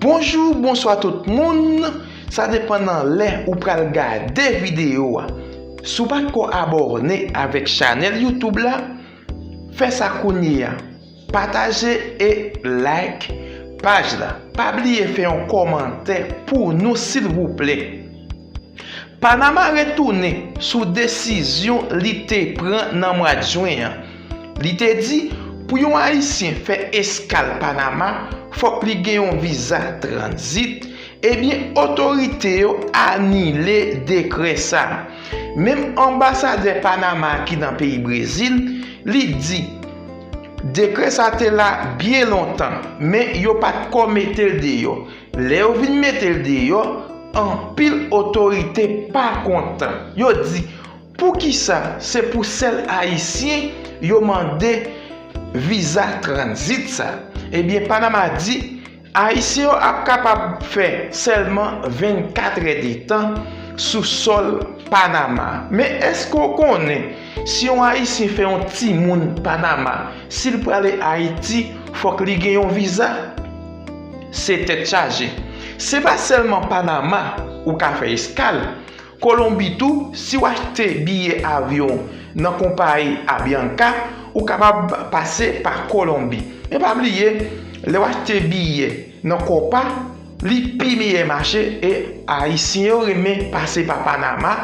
Bonjou bonswa tout moun sa depan nan lè ou pral gade video a si w pat ko abòne avèk chanèl YouTube la fè sa kounye a pataje e like paj la pa bliye fè yon kòmantè pou nou silvouplè. Panama retounen sou desizyon li te pran nan mwa Jwen an. Li te di pou yon Ayisyen fè eskal Panama fòk li gen yon viza tranzit, ebyen otorite yo anile dekrè sa. Menm anbasadè Panama ki nan peyi Brezil, li di dekrè sa te la byen lontan, men yo pat ko metel deyò. Lè yo vin mete l deyò, anpil otorite pa kontan. Yo di, Poukisa se pou sèl Ayisyen yo mande viza tranzit sa? Ebyen, Panama di, Ayisyen yo ap kapab fè sèlman 24 è de tan sou sòl Panama. Men èske w konnen si yon Ayisyen fè yon timoun Panama, si l prale Ayiti, fòk li gen yon viza? Se tèt chaje. Se pa sèlman Panama ou ka fè eskal, Kolonbi tou, si w achte biye avyon nan konpayi Avianca, ou kapab pase pa Kolonbi. Men pa bliye, lè w achte biye nan Copa, li pi miyè mache e Ayisyen yo renmen pase pa Panama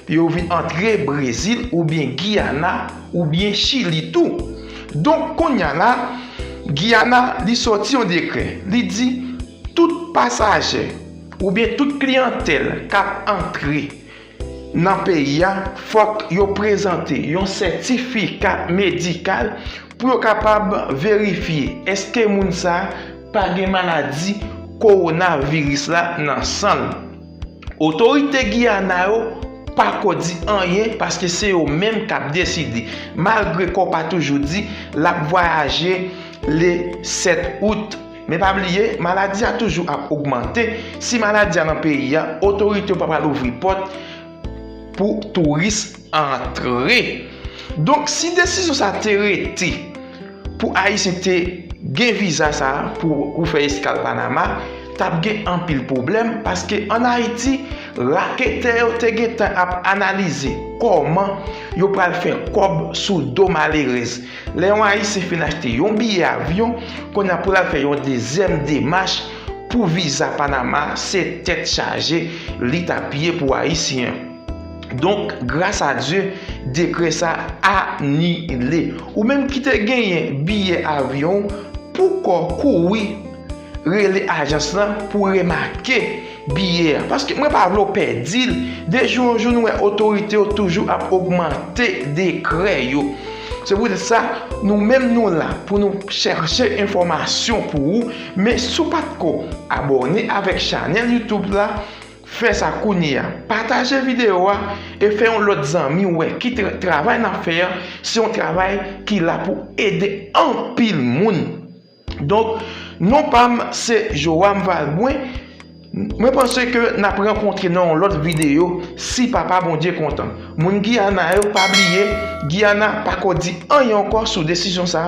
pou yo vin antre Brezil oubyen Giyana, oubyen Chili tou. Donk kounya la, Guyana li sòti yon dekrè, li di tout pasajè oubyen tout kliyantèl k ap antre nan peyi a fòk yo prezante yon sètifika medikal pou yo kapab verifye èske moun sa pa gen maladi kowonaviris la nan san l. Otorite Guyana yo pako di anyen paske se yo menm kap deside, malgre kò pa toujou di lap vwayaje le 7 out. Men pa bliye, maladi a toujou ap ogmante, si maladi a nan peyi a, otorite yo pa pral ouvri pòt pou touris. antre. Donk si desizyon sa te rete pou ayisyen te gen viza sa pou fè eskal panama tap gen anpil pwoblèm paske an ayiti raketè yo te gentan ap analize kòman yo pral fè kòb sou do malerèz lè yon ayisyen fin achte yon biyè avyon kounye a pou lal fè yon dezyèm demach pou viza panama se tèt chaje li tap ye pou ayisyen. Donk, gras a Dye, dekrè sa anile. Ou menm ki te genyen biyè avyon ou, poukò kouri rele ajans lan pou remake biyè a. Paske mwen pa vle ou pèdi l. De jou an jou nou wè otorite yo toujou ap ogmante dekrè yo. Se pou tèt sa, nou menm nou la pou nou chèche enfòmasyon pou ou. Men si w pa t ko abòne avèk chanèl YouTube la. Fè sa kounye a. Pataje videyo a e fè yon lòt zanmi wè ki travay n ap fè an se yon travay ki la pou ede anpil moun. Donk, non pa m se Joram Valbrun. Mwen panse ke n ap rankontre nan yon lòt videyo si Papa Bondye kontan. Moun Giyana yo pa bliye Giyana pako di anyen ankò sou desizyon sa.